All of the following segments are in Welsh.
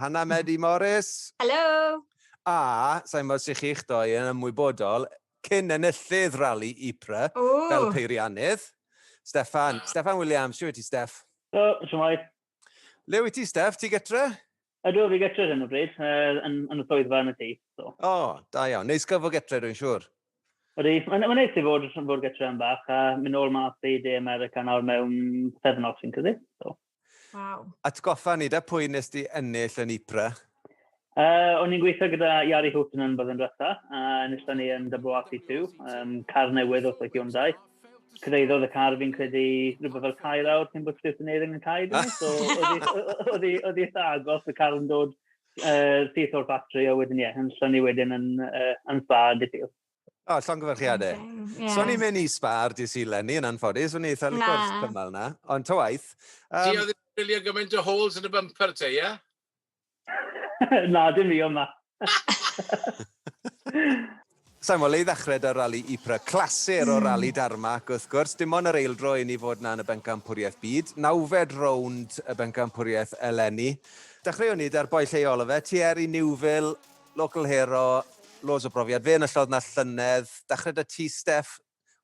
Hannah Medi Morris! Helo! A, sain gwbod sut chi'ch doi yn ymwybodol, cyn enillydd Rali Ypres fel peiriannydd, Steffan. Steffan Williams, shwt wyt ti Steff? Helo, shwmae? Le wyt ti Steff, ti gytre? Ydw, fi gytre ar hyn o bryd, yn yn y swyddfa yn y tŷ, so. O, da iawn. Neis cael fod gytre dwi'n siŵr. Ydy, mae'n mae'n neis i fod fod gytre am bach a mynd nôl mas i De America nawr mewn pythefnos fi'n credu, so. Wow. Atgoffa ni, da pwy nes di ennill yn Ypres? Uh, o'n i'n gweithio gyda Iari Houghton yn byddyn rhywbeth, a nista ni yn WRC2, um, car newydd wrth y Hyundai. Cyddeiddodd y car fi'n credu rhywbeth o'r cair awr cyn bod Stuart yn eiring yn cair, dwi, ah. so oedd i eitha agos, y car yn dod uh, syth o'r batri, a wedyn ie, yeah, yn llynu wedyn yn, uh, yn spa, diffyg. O, oh, llongyfarchiadau. Yeah. So, ni'n mynd i spar di si Lenny yn anffodus, o'n i eitha licor cymal na, ond ta waith. Um, Di oedd yn wylio gymaint o holes yn y bumper te, ie? na, dim i yma. Sa'n mo, le i ddechrau da rali Ypres, clasur o hmm. rali Darmac, wrth gwrs. Dim ond yr eildro i ni fod na yn y bencampwriaeth byd. Nawfed rownd y bencampwriaeth eleni. Dechreuwn ni da'r boi lleol o fe, Thierry Newville, Local hero, loads o brofiad. Fe enillodd 'na llynedd. Dachre 'da ti Steff.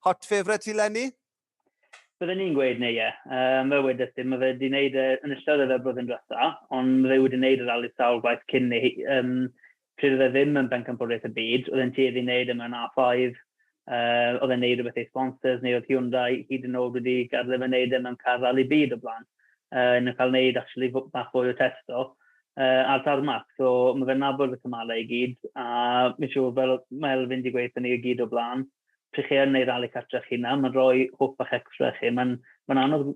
Hot favourite ti 'leni? Bydden i'n gweud neu ie. Yym fel wedes i ma' fe 'di neud e, enillodd e fe blwyddyn dwetha, ond ma' fe wedi neud y rali sawl gwaith cyn 'ny. Yym pryd o'dd e ddim yn bencampwriaeth y byd, o'dd e'n tueddu i neud e mewn A five, uh, oedd e'n neud rhywbeth ei sponsors, neu oedd Hyundai hyd yn oed wedi gadael efe neud e mewn car rally byd o blaen, uh, yn cael neud actually bach fwy o testo uh, ar tarmac. So mae fe'n nabod y cymalau i gyd, a mae'n siŵr fel mae Elfyn wedi gweithio ni i gyd o blaen, pryd chi yn neud rally cartref chi na, mae'n rhoi hwp bach extra chi, mae'n ma anodd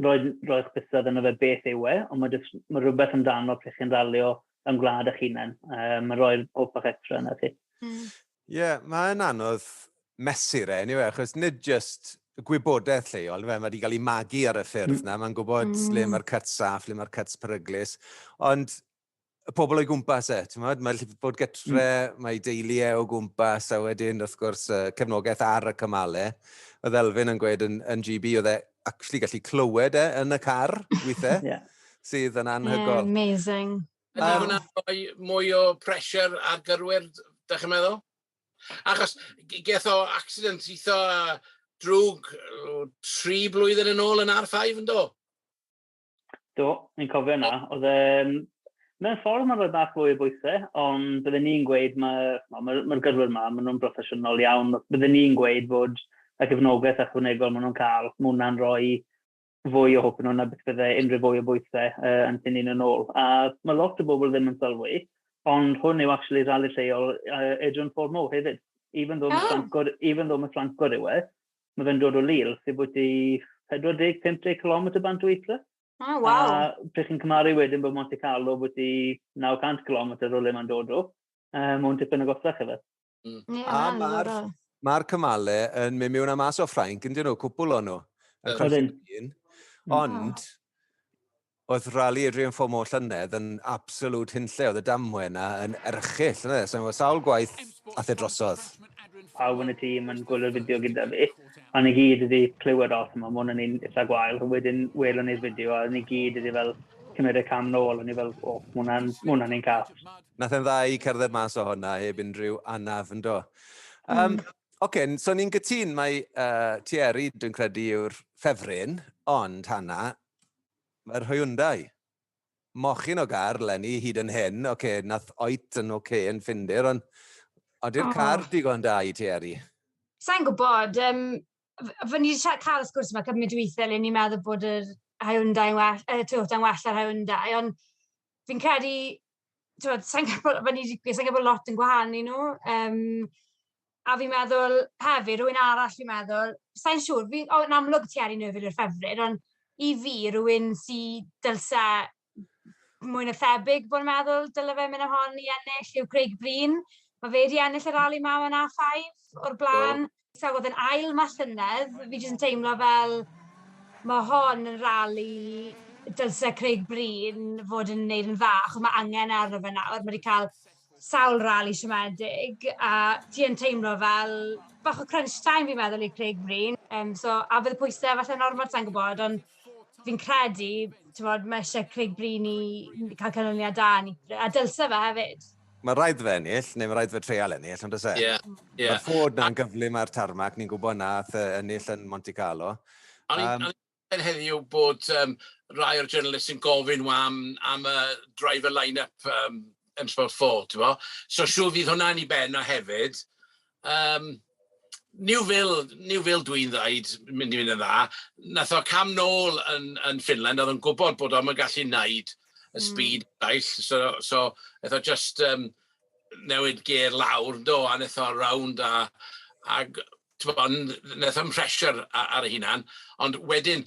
roedd, roedd chwisod yna fe beth yw e, ond mae, just, mae rhywbeth amdano pryd chi'n ralio yn gwlad eich hunain. Uh, mae rhoi'r hoff bach extra yna chi. Mm. yeah, mae'n anodd mesur e, anyway, achos nid just gwybodaeth lleol, fe, mae wedi cael ei magu ar y ffyrdd mm. na, mae'n gwybod mm. le mae'r cyts saff, le mae'r cyts peryglus, ond y pobl o'i gwmpas e, ti'n modd? Mae'n llyfr bod gytre, mm. mae deulu e o gwmpas, a wedyn, wrth gwrs, uh, cefnogaeth ar y cymalau. E. Oedd Elfyn yn gweud yn, yn GB, oedd e actually gallu clywed e yn y car, weithiau, yeah. sydd yn anhygol. Yeah, amazing. Yna um, hwnna rhoi mwy o pressure ar gyrwyr, da chi'n meddwl? Achos geth o accident eitha drwg tri blwyddyn yn ôl yn R5 yn do? Do, ni'n cofio yna. Oedd e... Mewn ffordd mae'n rhoi bach fwy o bwysau, ond byddwn ni'n gweud mae, wel, mae'r ma gyrwyr yma, maen nhw'n broffesiynol iawn. Byddwn ni'n gweud bod y gefnogaeth ychwanegol maen nhw'n cael, mae hwnna'n rhoi fwy o hwp yn hwnna beth bydde unrhyw fwy o bwysau uh, yn tynnu'n yn ôl. A mae lot o bobl ddim yn sylwi, ond hwn yw actually rhali lleol uh, Adrian Ford Moore hefyd. Even though oh. mae Ffrancwr, even though mae Ffrancwr yw e, Mae fe'n dod o Lille, sy'n bwyty 40-50 km bant o Ypres. Oh, ah, wow. A pryd chi'n cymaru wedyn bod Monte Carlo bwyty 900 km o le mae'n dod o, um, mae'n tipyn o gosach efe. Mm. Yeah, a mae'r ma cymale yn mynd mewn a mas o Ffrainc, yn dyn nhw, cwpl o'n nhw. Yn Ydyn. Ond, Oedd rali Adrian Fomo llynedd yn absolute hunlle, oedd y damwe yna yn erchill, yna e, so sawl gwaith ath e drosodd. Pawb yn y tîm yn gwylio'r fideo gyda fi, a ni gyd wedi clywed o, so mae hwn yn un eitha gwael, wedyn welon ni'r fideo a ni gyd wedi fel cymryd y cam nôl, o'n i fel, o, oh, hwnna'n hwnna un cath. Nath e'n dda i cerdded mas o hwnna heb unrhyw anaf, ynddo. Um, mm. Oce, okay, so ni'n gytun, mae uh, Thierry, dwi'n credu, yw'r ffefryn, ond Hanna, Mae'r Hyundai. Mochyn o gar leni hyd yn hyn, ok nath oet yn ok yn Ffindir ond odi'r car digon da i ti Eryri? Sai'n gwybod, yym f- ni 'di cael y sgwrs yma cymaint o weithiau le ni'n meddwl bod yr Hyundai yn well, y Toyota'n well na'r Hyundai ond fi'n credu tibod, sa i'n gwybod, fel ni 'di gweud, sa i'n gwybod lot yn gwahanu i nhw. Yym, a fi'n meddwl hefyd, rywun arall fi'n meddwl, sa i'n siŵr, fi'n... o, yn amlwg ti ar un Ŵyl i'r Ffefryn, ond i fi, rywun sy dylse mwy na thebyg bod yn meddwl dyle fe mynd â hon i ennill yw Craig Breen. Mae fe wedi ennill y rali 'ma yn A5 o'r blaen. So oedd yn ail ma llynedd, fi jyst yn teimlo fel ma hon yn rali dylse Craig Bryn fod yn neud yn dda, achos ma angen arno fe nawr, ma wedi cael sawl rali siomedig, a ti yn teimlo fel bach o crunch time fi'n meddwl i Craig Bryn, um, so a fydd y pwysau falle yn ormod sa'n gwybod, ond fi'n credu, ti'n bod, mae eisiau Craig Bryn i cael canlyniad da, a dylse fe hefyd. Mae rhaid fe ennill, neu mae rhaid fe treial ennill, ond ys e? Ie, ie. Mae'r Ford na'n gyflym ar tarmac, ni'n gwybod na, ath e ennill yn Monte Carlo. O'n i'n um, heddiw bod um, rai o'r journalists yn gofyn am, am y driver line-up um, M-Sport 4, ti'n fo? So siw fydd hwnna'n i ben o hefyd, Yym, New Vale, New Vale dwi'n ddeud, mynd i fynd yn dda. Wnaeth o cam nôl yn yn Finland, oedd o'n gwybod bod o'm yn gallu wneud y speed eraill, so so wnaeth o jyst yym newid gêr lawr do, a wnaeth o rownd a a g- tibod, wnaeth o ymhresyr a- ar ei hunan, ond wedyn,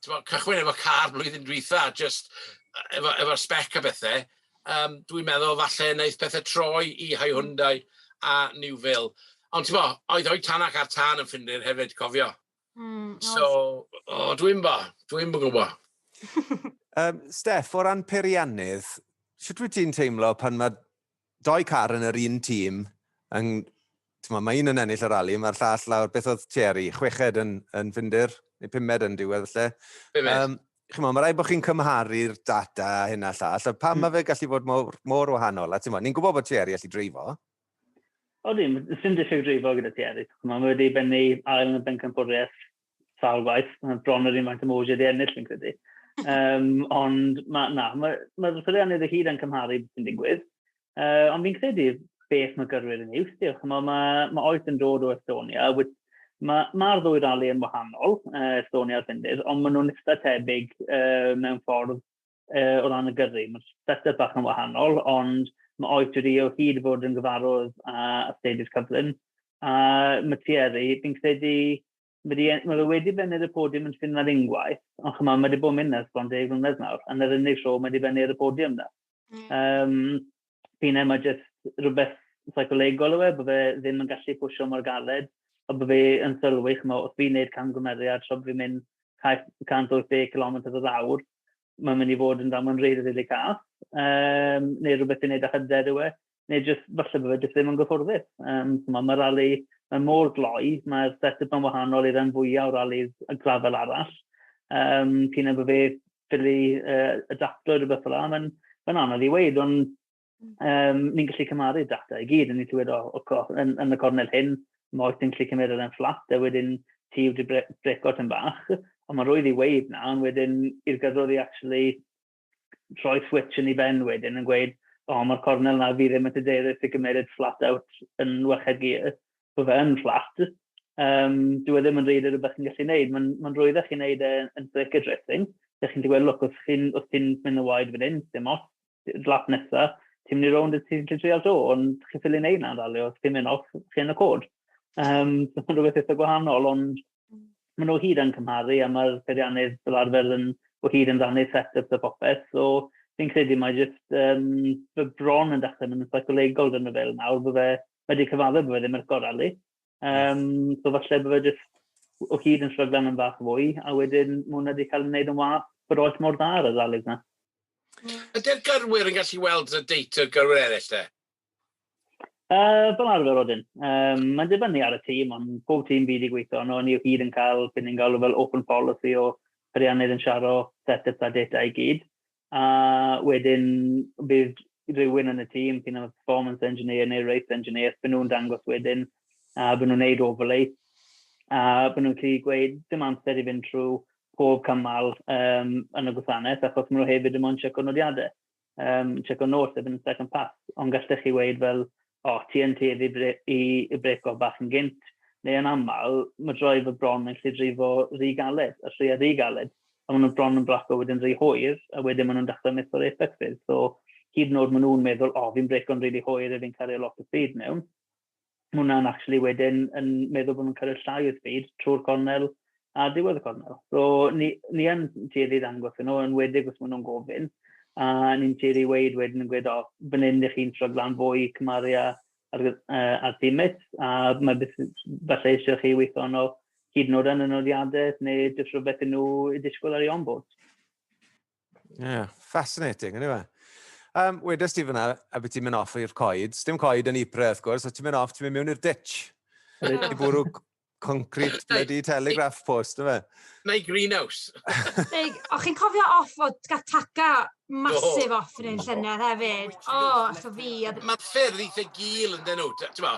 Timo, cychwyn efo car blwyddyn dwytha, just efo, efo spec a bethau, um, dwi'n meddwl falle wneud pethau troi i Hai Hyundai a New Vale. Ond ti'n bo, oedd o'i tan ac ar tan yn ffindir hefyd, cofio. Mm, so, oh, dwi'n bo, dwi'n bo gwybod. um, Steff, o ran peiriannydd, sut wyt ti'n teimlo pan mae Doi car yn yr un tîm, yn, t'mo, mae un yn ennill y rali, mae'r llall lawr, beth oedd Thierry, chweched yn, yn Ffindir, neu pumed yn diwedd felly. Pumed. Um, Chimo, mae rhaid bod chi'n cymharu'r data hyn a llall, a pam mm. mae fe gallu bod mor, mor wahanol? A ti'n ni'n gwybod bod Thierry allu dreifo. O ddim, sy'n diffyg dreifo gyda Thierry. Mae wedi bennu ail yn y bencampwriaeth sawl gwaith, bron yr un faint o mowsiau di ennill fi'n credu. Um, ond ma, na, mae'r ma, ma llwyddiannau dy hyd yn cymharu sy'n digwydd. Uh, ond fi'n credu beth mae gyrwyr yn ei wstio. Mae, ma, ma oes yn dod o Estonia, wyt Mae'r ma, ma ddwy rali yn wahanol, uh, Estonia a Ffindir, ond maen nhw'n eitha tebyg uh, mewn ffordd uh, o ran y gyrru. Mae'r set-up bach yn wahanol, ond mae oes wedi o hyd fod yn gyfarwydd a astudiaeth cyflym. A mae Thierry, fi'n credu, mae fe wedi bennu'r y podiwm yn ffynladd unwaith, ond chyma, mae wedi bod yn mynd nes bron deg mlynedd nawr, yn yr unig tro mae wedi bennu ar y podiwm na. Mm. Um, Pine mae jyst rhywbeth seicolegol yw e, bod fe ddim yn gallu pwysio mor galed, a bod fe yn sylwi, chymod, os fi'n gwneud camgymeriad, tra bod fi'n mynd 180 km yr awr, mae'n mynd i fod yn damwain rili, really, really cath, um, neu rhywbeth fi'n gwneud â hyder yw e, neu jyst falle bod fe jyst ddim yn gyffwrddus. Um, mae rali, mae mor gloi, mae'r set-up yn wahanol i'r rhan fwyaf o ralis y grafel arall. Um, pyn bod fe ffili uh, adapto rhywbeth fel yna, mae'n ma anodd i weid, ond um, ni'n gallu cymaru data i gyd, yn ni'n clywed o, o, o yn, yn, y cornel hyn, mae oes yn gallu cymryd yn fflat, a wedyn ti wedi breco yn bach, ond mae'n rwydd i weid na, ond wedyn i'r gyddwr i actually rhoi switch yn ei ben wedyn yn gweud, o, mae'r cornel na fi ddim yn tydeirus i gymeryd flat out yn wached gear, bod fe yn fflat, um, dwi e ddim yn rhaid i rhywbeth chi'n gallu gwneud. Mae'n ma rhwydd chi'n gwneud e yn break addressing. Dych chi'n gweld, look, os ti'n chi mynd yn waed fan hyn, dim os, lap nesa, ti'n mynd i rownd y ti'n gallu trial to, ond chi'n ffili gwneud na'n dalio, os ti'n mynd off, chi'n y cod. Um, so mae'n rhywbeth eitha gwahanol, ond maen nhw hyd yn cymharu a mae'r peiriannydd fel arfer yn o hyd yn rannu set-ups a popeth. So fi'n credu mae jyst um, fy bron yn dechrau mynd yn psycholegol dyn nhw fel nawr, bod fe wedi cyfadde bod fe ddim ar gorau li. Um, so falle bod fe jyst o hyd yn sryglan yn fach fwy, a wedyn mae hwnna wedi cael ei wneud yn wath bod oes mor dda ar y ddalig na. Ydy'r gyrwyr yn gallu weld y date o'r gyrwyr eraill te? Uh, fel arfer wedyn. Um, mae'n dibynnu ar y tîm, ond pob tîm fi wedi gweithio ond ni o hyd yn cael beth ni'n galw fel open policy o ariannydd yn siaro set-ups a data i gyd. a wedyn bydd rhywun yn y tîm sy'n efo performance engineer neu race engineer, byd nhw'n dangos wedyn, a byd nhw'n neud overlay, a byd nhw'n gallu gweud dim amser i fynd trwy pob cymal um, yn y gwasanaeth, achos maen nhw hefyd yn mwyn checo nodiadau, um, checo nos, efo yn second pass, ond gallech chi weid fel, O, ti yn tuedd i bre- i i brêco bach yn gynt, neu yn aml, mae droed fy bron yn gallu dreifo rhy galed, a thrwy a rhy galed, a maen nhw bron yn braco wedyn rhy hwyr, a wedyn maen nhw'n dechrau methu'r effect fydd, so hyd yn oed maen nhw'n meddwl, o, fi'n brêco'n rili hwyr, fi'n cario lot o speed mewn, maen nhw'n actually wedyn yn meddwl bod nhw'n cario llai o speed trwy'r cornel, ar ddiwedd y cornel. So, ni, ni yn tueddu ddangos nhw, yn wedig os maen nhw'n gofyn, a ni'n tueddu weid wedyn yn gweud, o, fan hyn ydych chi'n stryglan fwy cymaru â ar, uh, ar dimet, a mae beth falle eisiau chi weithio nhw hyd yn oed yn y nodiadau, neu jyst rhywbeth yn nhw i disgwyl ar ei onboard. Yeah, fascinating, anyway. Um, Wedys ti fyna, a beth ti'n mynd off i'r coed. Dim coed yn Ypres, wrth gwrs, a ti'n mynd off, ti'n mynd mewn i'r ditch. I bwrw, concrete bloody telegraph post, yma. Neu greenhouse. Neu, o chi'n cofio off o Gataka masif oh. off yn ein llynedd hefyd? O, oh, eto fi. Mae ffyrdd eitha gil yn dyn nhw.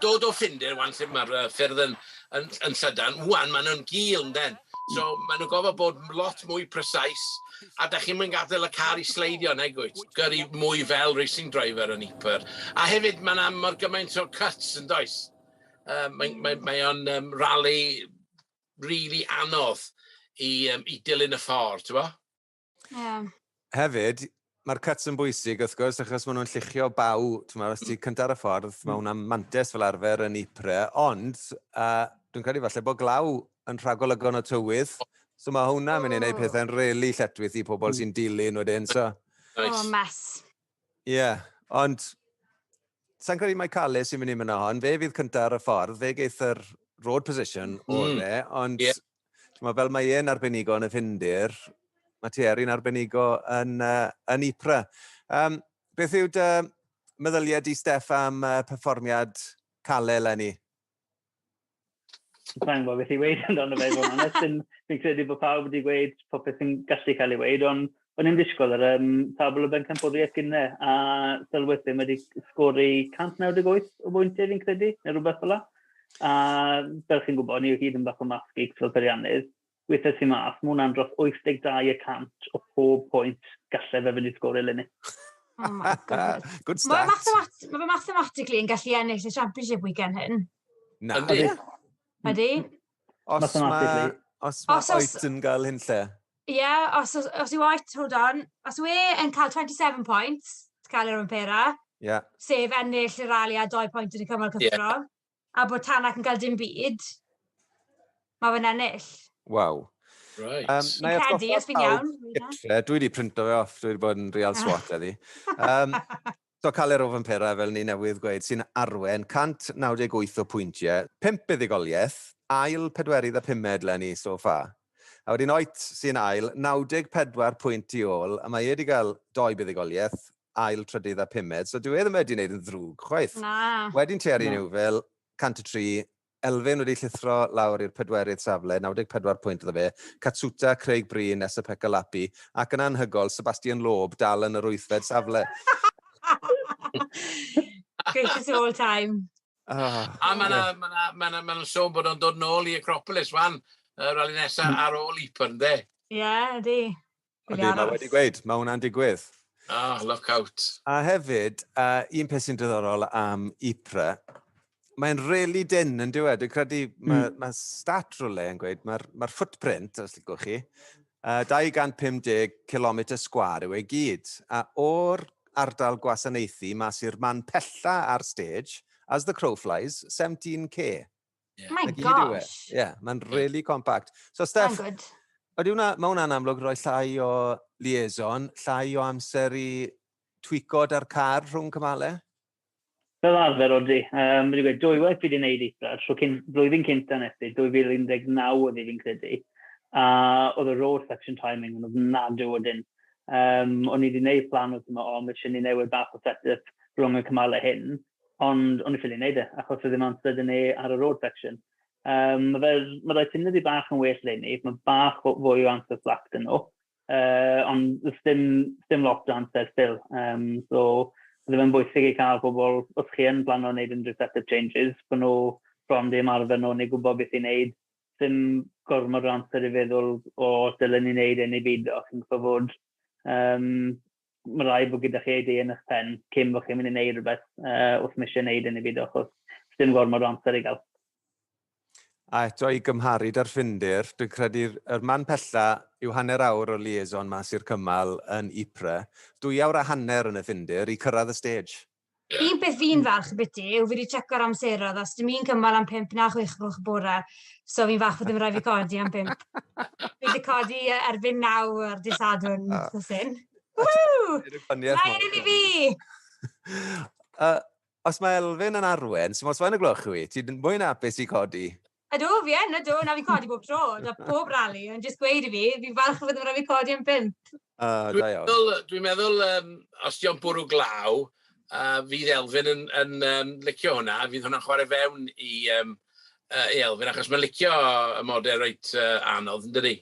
Dod o ffindir, wan lle mae'r ffyrdd yn, yn, yn llydan, wan maen nhw'n gil yn dyn. So maen nhw'n gofod bod lot mwy precise a da chi'n mynd gadael y car i sleidio neu gwyt. Gyrru mwy fel racing driver yn Iper. A hefyd mae yna mor gymaint o cuts yn does. Yym, mae mae mae o'n yym rali rili anodd i yym i dilyn y ffordd, t'bo'? Ie. Hefyd, mae'r cuts yn bwysig wrth gwrs, achos maen nhw'n lluchio baw, t'mo', os ti cynta ar y ffordd, mae hwnna'n mantes fel arfer yn Ypres, ond uh, dwi'n credu falle bod glaw yn rhagolygon o tywydd, so mae hwnna'n mynd i wneud pethau'n rili really lletwith i pobl sy'n dilyn wedyn, so... O, oh, mess. Ie, yeah, ond sa'n credu mae Calais sy'n mynd i mynd hon. Fe fydd cyntaf ar y ffordd, fe geith yr road position mm. o'r le, ond yeah. mae fel mae e'n arbenigo yn y ffindir, mae Thierry'n arbenigo yn, uh, yn Ypra. Um, beth yw dy meddyliau di, Steff, am uh, perfformiad Calais, Lenny? Mae'n gwybod beth i weid amdano fe, fod yn ystyn. Fi'n credu bod pawb wedi gweud popeth sy'n gallu cael ei weid, ond o'n i'n disgwyl yr um, tabl o bencampwriaeth gynne, a sylwyd ddim wedi sgori 198 o bwyntiau fi'n credu, neu rhywbeth fel la. A fel chi'n gwybod, ni o hyd yn bach o math geeks fel peiriannydd, Weithiau tu mas, mae hwnna'n dros 82 y cant o pob pwynt gallai fe fynd i sgôr eleni. Oh my god. Good stat. Mae mathemat ma fe mathematically yn gallu ennill y championship weekend hyn. Na. Ydy. Ydy. Os mae... Os mae os, Oet yn gael hyn lle. Ie, yeah, os, os, os yw Oet, hold on. Os yw e yn cael 27 points, cael yr ymperau. Yeah. Sef ennill y rali a 2 pwynt yn y cymal cyffro. Yeah. a bod Tanak yn cael dim byd, mae fe'n ennill. Waw. Right. Um, na i credu, os fi'n iawn. Dwi wedi printo fe off, dwi wedi bod yn real ah. swat eddi. Um, so cael ei rof yn pera, fel ni newydd gweud, sy'n arwen 198 o pwyntiau, 5 buddigoliaeth, ail pedwerydd a pumed le ni so fa. A wedyn oet sy'n ail, 94 pwynt i ôl, a mae e wedi cael doi buddigoliaeth, ail, trydydd a pumed, so dyw e ddim wedi wneud yn ddrwg chwaith. Na. Wedyn ti ar un yw fel 103, Elfyn wedi llithro lawr i'r pedwerydd safle, 94 pwynt iddo fe, Katsuta, Craig Breen, Esapekka Lapi, ac yn anhygoel, Sebastian Loeb dal yn yr wythfed safle. Greatest of all time. Oh, a mae yna ma na, ma na, ma na sôn bod o'n dod nôl i Acropolis wan, y rali nesaf ar ôl Iper, ynddo? Ie, yeah, ydy. Ond ni, mae wedi gweud, mae hwnna'n digwydd. Ah, oh, look out. A hefyd, uh, un peth sy'n diddorol am IPRA, mae'n really dyn yn diwedd. Dwi'n credu, mae mm. ma stat rhywle yn gweud, mae'r ma footprint, os ti'n chi, uh, 250 km sgwar yw ei gyd. A o'r ardal gwasanaethu mas i'r man pella ar stage, as the crow flies, 17k. Yeah. My e. gosh. Ie, yeah, mae'n really compact. So, Steph, Ydy hwnna, mae hwnna'n amlwg roi llai o liaison, llai o amser i twico da'r car rhwng cymalau? Fel arfer, Rodri, um, wedi gweud, dwy waith fi wedi gwneud eitha, tro cyn, blwyddyn cynta nes i, 2019 oedd fi'n credu, a oedd y road section timing yn ofnadw o dyn. Um, o'n i wedi gwneud plan wrth yma, o, mae eisiau ni newid bach o set-up rhwng y cymalau hyn, Ond o'n i ffili neud e, achos oedd dim amser 'da ni ar y road section. Um, mae fe, mae rhoi ti'n ydi bach yn well le ni, mae bach fwy o amser slack dyn nhw, uh, ond ddim, ddim lot o amser still. Um, so, bydd e'n bwysig i cael pobl, os chi yn plan o'n neud unrhyw setup changes, bod nhw bron ddim arfer nhw, neu gwybod beth i'n neud, ddim gormod o amser i feddwl o dylen ni'n neud ei ni byd o, chi'n gwybod fod um, mae'n rhaid bod gyda chi ei dei yn eich pen cyn bod chi'n mynd i wneud rhywbeth uh, wrth mysio wneud yn ei byd achos dim gormod o amser i gael. A eto i gymharu da'r ffindir, dwi'n credu'r er man pella yw hanner awr o liaison mas i'r cymal yn Ypres, dwy awr a hanner yn y ffindir i cyrraedd y stage. Un peth fi'n falch biti yw fi wedi checo'r amseroedd, os dim un cymal am 5 na 6 gloch y bore, so fi'n falch bod ddim rhaid fi codi am 5. fi wedi codi erbyn 9 ar dy sadwn, ah. so sy'n. Woo! Mae yn i fi! uh, os mae Elfyn yn arwen, sy'n os mae'n y gloch i, ti'n mwy na apus i codi? Ydw, fi yn, ydw, na fi'n codi bob tro, da bob rali, ond jyst gweud i fi, fi'n falch o fod yn rhaid fi codi yn pimp. Uh, dwi'n meddwl, dwi meddwl um, os diolch bwrw glaw, uh, fydd Elfyn yn, yn um, licio hwnna, fydd hwnna'n chwarae fewn i, um, uh, i Elfyn, achos mae'n licio y modau reit uh, anodd, yn dydy.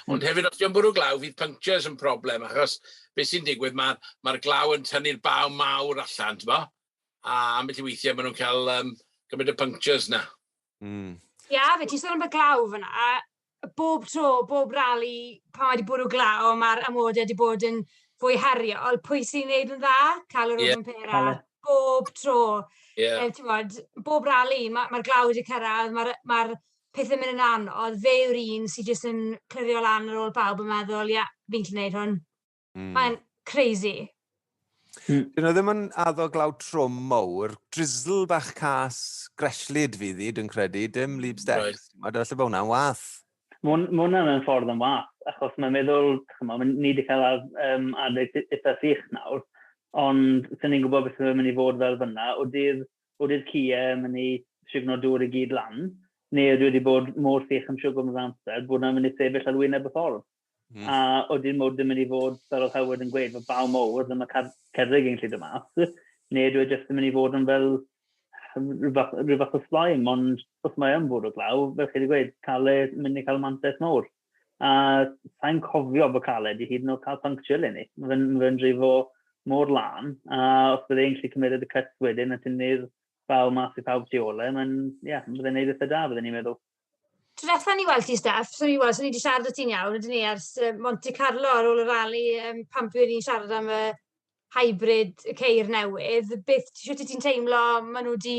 Ond hmm. hefyd, os diolch bwrw glaw, fydd punctures yn problem, achos beth sy'n digwydd, mae'r ma, glaw yn tynnu'r baw mawr allan, ti'n bo? A ambell i weithiau maen nhw'n cael um, gymryd y punctures na. Mm. Ie, yeah, fe ti'n sôn am y glaw fyna. Bob tro, bob rali, pan wedi bwrw glaw, mae'r amodau wedi bod yn fwy heriol. Pwy sy'n neud yn dda? Cael yr yeah. pera. Bob tro. Yeah. E, bod, bob rali, mae'r ma glaw wedi cyrraedd, mae'r ma pethau mynd yn anodd. Fe yw'r un sy'n jyst yn clirio lan ar ôl pawb yn meddwl, ie, yeah, fi'n gallu gwneud hwn. Mm. Mae'n crazy. Mm. Dyn nhw ddim yn addo glaw trwm mowr, drizzle bach cas, greslid fydd i, dwi'n credu, dim leap steps. Right. Mae dy falle bod hwnna'n wath. Mae hwnna'n yn ffordd yn wath, achos mae'n meddwl, chyma, mae ni wedi cael um, adeg eitha sych nawr, ond sy'n ni'n gwybod beth yw'n mynd i fod fel fyna, o dydd, o dydd cia yn mynd i signo dŵr i gyd lan, neu dwi wedi bod mor sych yn siwgr yn amser, bod yna'n mynd i sefyll ar wyneb y ffordd. Mm. A oedd dim mwyd yn mynd i fod, fel oedd Howard yn gweud, fod baw mowr, ddim y cerrig yn lle dy mas, neu dwi jyst yn mynd i fod yn fel rhywbeth o slime, ond os mae yn fod o glaw, fel chi wedi gweud, cael ei mynd i cael mantais mowr. A sa'n cofio bod cael ei wedi hyd yn oed cael puncture le ni. Mae fe'n fe drifo mor lan, a os bydd e'n lle cymryd y cyst wedyn, a tynnu'r baw mas i pawb tu ole, mae'n, ie, yeah, byddai'n neud eitha da, byddai'n ni'n meddwl. Diwetha ni weld ti Steff, so ni weld, so ni 'di siarad 'da ti'n iawn ydyn ni ers yy Monte Carlo ar ôl y rali yym pan buon ni'n siarad am y hybrid y ceir newydd, beth ti shwt wyt ti'n teimlo ma' nw 'di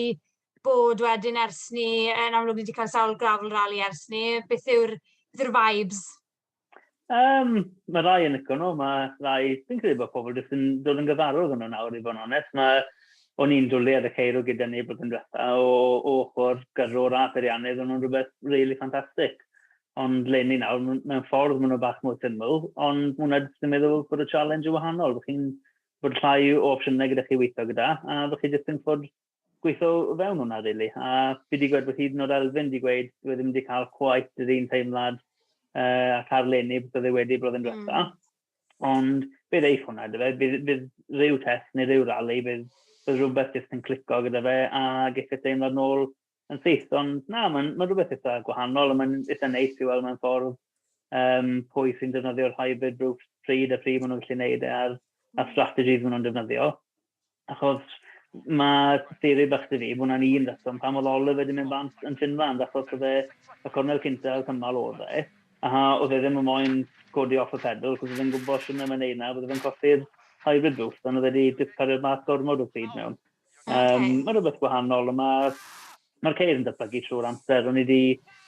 bod wedyn ers 'ny, yn amlwg ni 'di ca'l sawl gravel rali ers 'ny, beth yw'r beth yw'r vibes? Um, mae rai yn licio nhw, mae rai... Dwi'n credu bod pobl jyst yn dod yn gyfarwydd yn nhw nawr, i fod yn onest. Mae o'n i'n dwlu ar y ceirw gyda ni bod yn diwetha o, o ochr gyrrwr a beiriannydd, o'n nhw'n rhywbeth really ffantastig. Ond le ni nawr, mewn ffordd maen nhw bach mwy syml, ond mae hwnna jyst yn meddwl bod y challenge yn wahanol. Fy chi'n bod llai o opsiynau gyda chi weithio gyda, a fy chi jyst yn ffordd gweithio o fewn hwnna, really. A fi wedi gweud bod hyd yn oed Elfyn wedi gweud bod e ddim wedi cael cwaith yr un teimlad uh, a cael lenni bod oedd e wedi blwyddyn diwetha. Mm. Ond bydd eith hwnna, dwi fe, bydd, bydd rhyw test neu rhyw rali, bydd, bydd rhywbeth jyst yn clico gyda fe a geithio e teimlad nôl yn syth. Ond na, mae'n ma rhywbeth eitha gwahanol a mae'n eitha neis i weld mewn ffordd um, pwy sy'n defnyddio'r hybrid roofs pryd a pryd maen nhw'n gallu gwneud e a'r, a'r strategies maen nhw'n defnyddio. Achos mae theori bach dy fi, bod hwnna'n un reswm pam oedd Oliver wedi mynd bant yn Finland, achos oedd e y cornel cyntaf oedd cymal oedd e, a oedd e ddim yn moyn codi off y pedal, cos oedd e'n gwybod sy'n ddim yn ei na, oedd e'n colli'r hybrid boost, ond oedd wedi discario'r mas gormod o speed mewn. Okay. Um, mae rhywbeth gwahanol, ond mae'r mae ceir yn datblygu trwy'r amser. O'n i wedi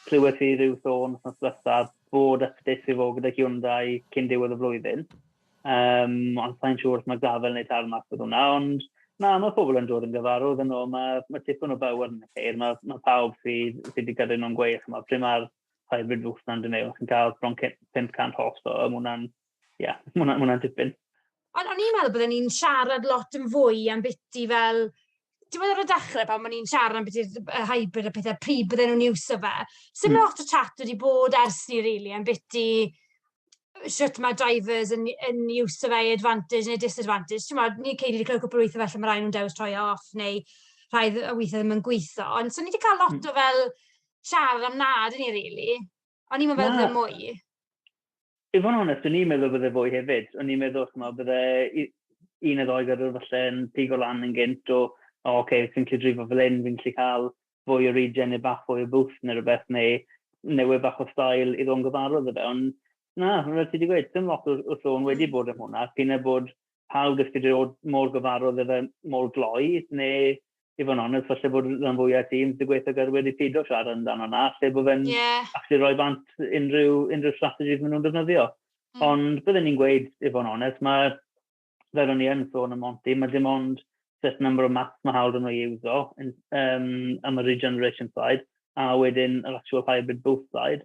clywed i rhyw sôn wrth nos diwethaf bod updates i fod gyda Hyundai cyn diwedd y flwyddyn. Um, ond sa'n siŵr os mae gafel neu tar mas bod hwnna, ond na, mae pobl yn dod yn gyfarwydd yn ôl, mae, mae tipyn o bywyd yn y ceir, mae, mae pawb sydd, sydd wedi gadw nhw'n gweith, mae pryd mae'r hybrid fws na'n dyn chi'n cael bron 500 host o, mae hwnna'n, ie, yeah, mae hwnna'n hwnna tipyn. Ond o'n i'n meddwl byddwn ni'n siarad lot yn fwy am biti fel ti'n meddwl ar y dechrau pan o'n i'n siarad am beth y hybrid a pethau, pryd bydden nhw'n iws o fe. Sut mm. lot o chat wedi bod ers ni, really, am beth i sut mae drivers yn, yn iws o fe i advantage neu disadvantage. Ti'n meddwl, ni'n ceid wedi clywed cwpl o weithio felly mae rhaid nhw'n dewis troi e off neu rhai o weithio ddim yn gweithio. Ond so ni wedi cael lot mm. o fel siarad am nad yn ni, really. O'n i'n meddwl bod mwy. I fod yn onest, o'n i'n meddwl bydde fwy hefyd. O'n i'n meddwl, chymod, bydde un o ddoi gyrwyr falle yn pig o lan yn gynt o, o, oce, okay, fi'n gallu drifo fel un, fi'n gallu cael fwy o regen neu bach fwy o bwth neu rhywbeth, neu newid bach o stael i ddod yn gyfarwydd y fe. Ond na, fel ti wedi gweud, dim lot o, o sôn wedi mm. bod am hwnna, cyn e bod pawb dysgu dy fod mor gyfarwydd efe mor gloi, neu i fod yn onest, falle bod rhan fwyaf tîm sy'n gweithio gyda wedi pido siarad amdano yna, lle bod fe'n yeah. actually rhoi bant unrhyw, unrhyw strategies maen nhw'n defnyddio. Mm. Ond byddwn ni'n gweud, i fod yn onest, mae fel o'n i yn sôn am Monty, mae dim ond set number o maths mae hawl yn ei uso um, am y regeneration side, a wedyn yr actual hybrid boost side,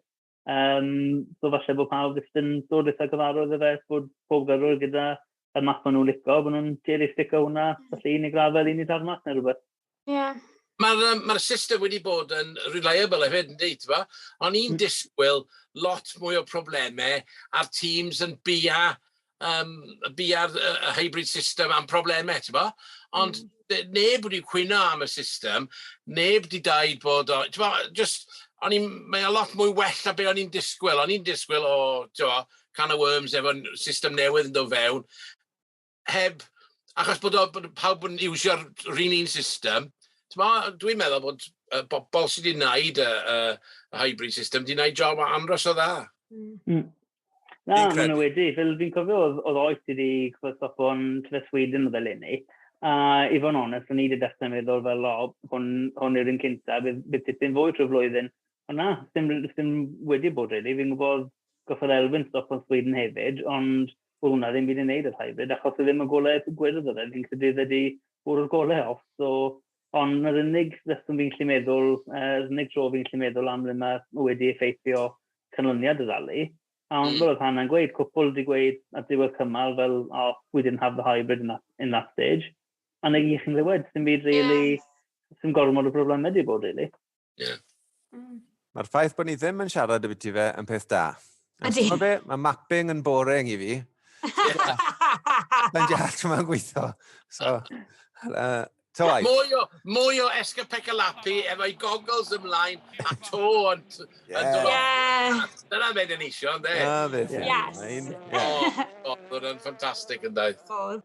Um, so falle bod pawb jyst yn dod eitha gyfarwydd y fe, bod pob gyrwyr gyda y map maen nhw'n licio, bod nhw'n cherry sticker hwnna, falle un i grafel, un i darmas neu rhywbeth. Ie. Yeah. Mae'r um, ma system wedi bod yn reliable hefyd yn dweud, fa? O'n i'n mm. disgwyl lot mwy o problemau a'r teams yn bia um, bia'r uh, hybrid system am problemau, ti'n bo? Ond mm. neb wedi cwyno am y system, neb wedi daid bod o, ti'n bo, just, o'n i'n, mae o lot mwy well na be o'n i'n disgwyl. O'n i'n disgwyl o, ti'n bo, can of worms efo system newydd yn dod fewn, heb, achos bod, o, bod pawb yn iwsio'r rhan un system, dwi'n meddwl bod uh, bobl sydd wedi gwneud y uh, uh, hybrid system wedi gwneud job anros o dda. Mm. mm. Na, maen nhw wedi. Fel fi'n cofio, oedd, oedd oes wedi cyfostop o'n Tyle Sweden oedd eleni. A i fod yn onest, o'n i wedi dechrau meddwl fel, o, hwn, hwn yw'r un cynta, bydd, bydd tipyn fwy trwy flwyddyn. Ond na, ddim, ddim wedi bod rili. Fi'n gwybod goffodd Elfyn stop o'n Sweden hefyd, ond oedd hwnna ddim wedi wneud yr hybrid, achos oedd ddim yn golau gwyrdd oedd e. Fi'n credu oedd wedi bwrw'r golau off, so ond yr unig reswm fi'n gallu meddwl, uh, yr unig dro fi'n gallu meddwl am le mae wedi effeithio canlyniad y rali, a ond mm. fel oedd Hannah'n gweud, cwpl wedi gweud at ddiwedd cymal fel, oh, we didn't have the hybrid in that, in that stage, a neu i chi'n rhywed, sy'n byd really, yeah. sy'n gormod o broblemau wedi bod, really. Yeah. Mm. Mae'r ffaith bod ni ddim yn siarad y biti fe yn peth da. Ydy. Mae ma mapping yn boring i fi. Mae'n jall trwy mae'n gweithio. So, uh, Toai. Mwy o, mwy o escapecalapi efo'i goggles ymlaen a to yn dod. Yeah. Dyna fe dyn eisiau, ynddo? Dyna fe. Yes. Oedd yn ffantastig yn dweud. Oedd.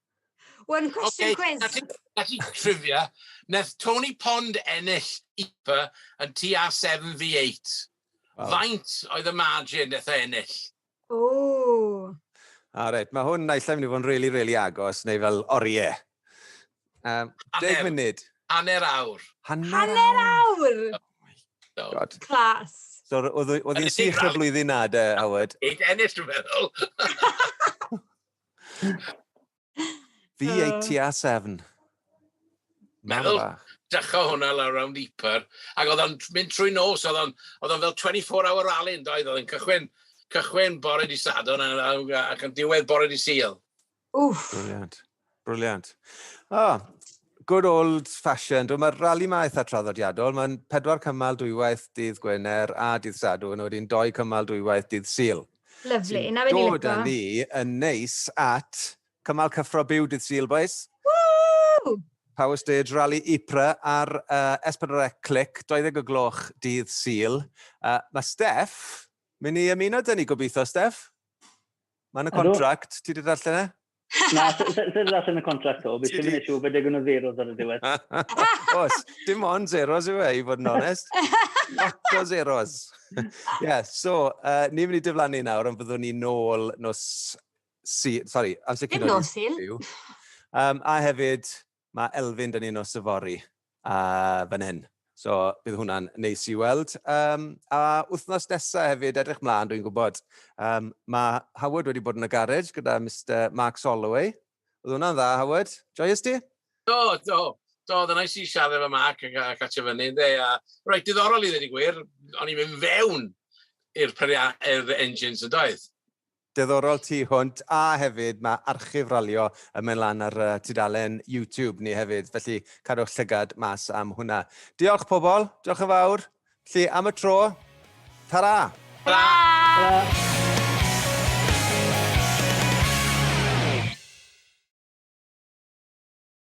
One question okay, quiz. Felly, felly trivia, neth Tony Pond ennill IPA yn TA 7v8. Wow. Faint oedd y margin neth ennill? Ooh. A reit, mae hwn naill ai mynd i fod yn really, really agos, neu fel oriau. Um, deg munud. Hanner awr. Hanner, hanner awr! awr. Oh God. Clas. So, oedd hi'n sych y flwyddyn na, de, Howard? Eight ennill, dwi'n meddwl. Fi ei tua sefn. Meddwl, dechrau hwnna lawr rownd Ypar, ac oedd o'n mynd trwy nos, oedd o'n fel 24 hour rally yn doedd, oedd o'n cychwyn, cychwyn bore di Sadwrn ac yn diwedd bore di Sil. Wff. Briliant, briliant. O, oh, good old fashioned. Mae'r rally ma eitha traddodiadol. Mae'n pedwar cymal dwywaith dydd Gwener a dydd Sadwrn, a wedyn doi cymal dwywaith dydd Sil. Lyfli, na fe ni lico. Dod â ni yn neis at cymal cyffro byw dydd Sul, bois. Woo! Power Stage Rally Ypres ar uh, S4C Click, 20 o gloch dydd Sul. Uh, mae Steff, mynd i ymuno dyn ni gobeithio, Steff? Mae'n y contract, ti wedi darllen e? Na, sydd allan y contract o, beth sy'n mynd siw, fe degwn o zeros ar y diwedd. Os, dim ond zeros yw e, i fod yn onest. Lot o zeros. Ie, yeah, so, uh, ni'n mynd i dyflannu nawr, ond byddwn ni nôl nos... Si, sorry, amser cyn o'n nos Sul. Um, a hefyd, Mae Elfyn yn un o syfori fan hyn, so bydd hwnna'n neis i weld. Um, a wythnos nesaf hefyd, edrych mlaen, dwi'n gwybod. Um, mae Howard wedi bod yn y garej gyda Mr Mark Soloway. Oedd hwnna'n dda, Howard? Joyous ti? Do, do. Do, oedd yna i siarad efo Mark ac, ac atio fyny, ynddo. A, roed diddorol i ddweud y gwir, o'n i'n mynd fewn i'r engines yn doedd. Diddorol tu hwnt, a hefyd mae archif ralio yn mynd lan ar tudalen YouTube ni hefyd, felly cadwch llygad mas am hwnna. Diolch pobl, diolch yn fawr. Felly am y tro, ta-ra! Tara! Tara!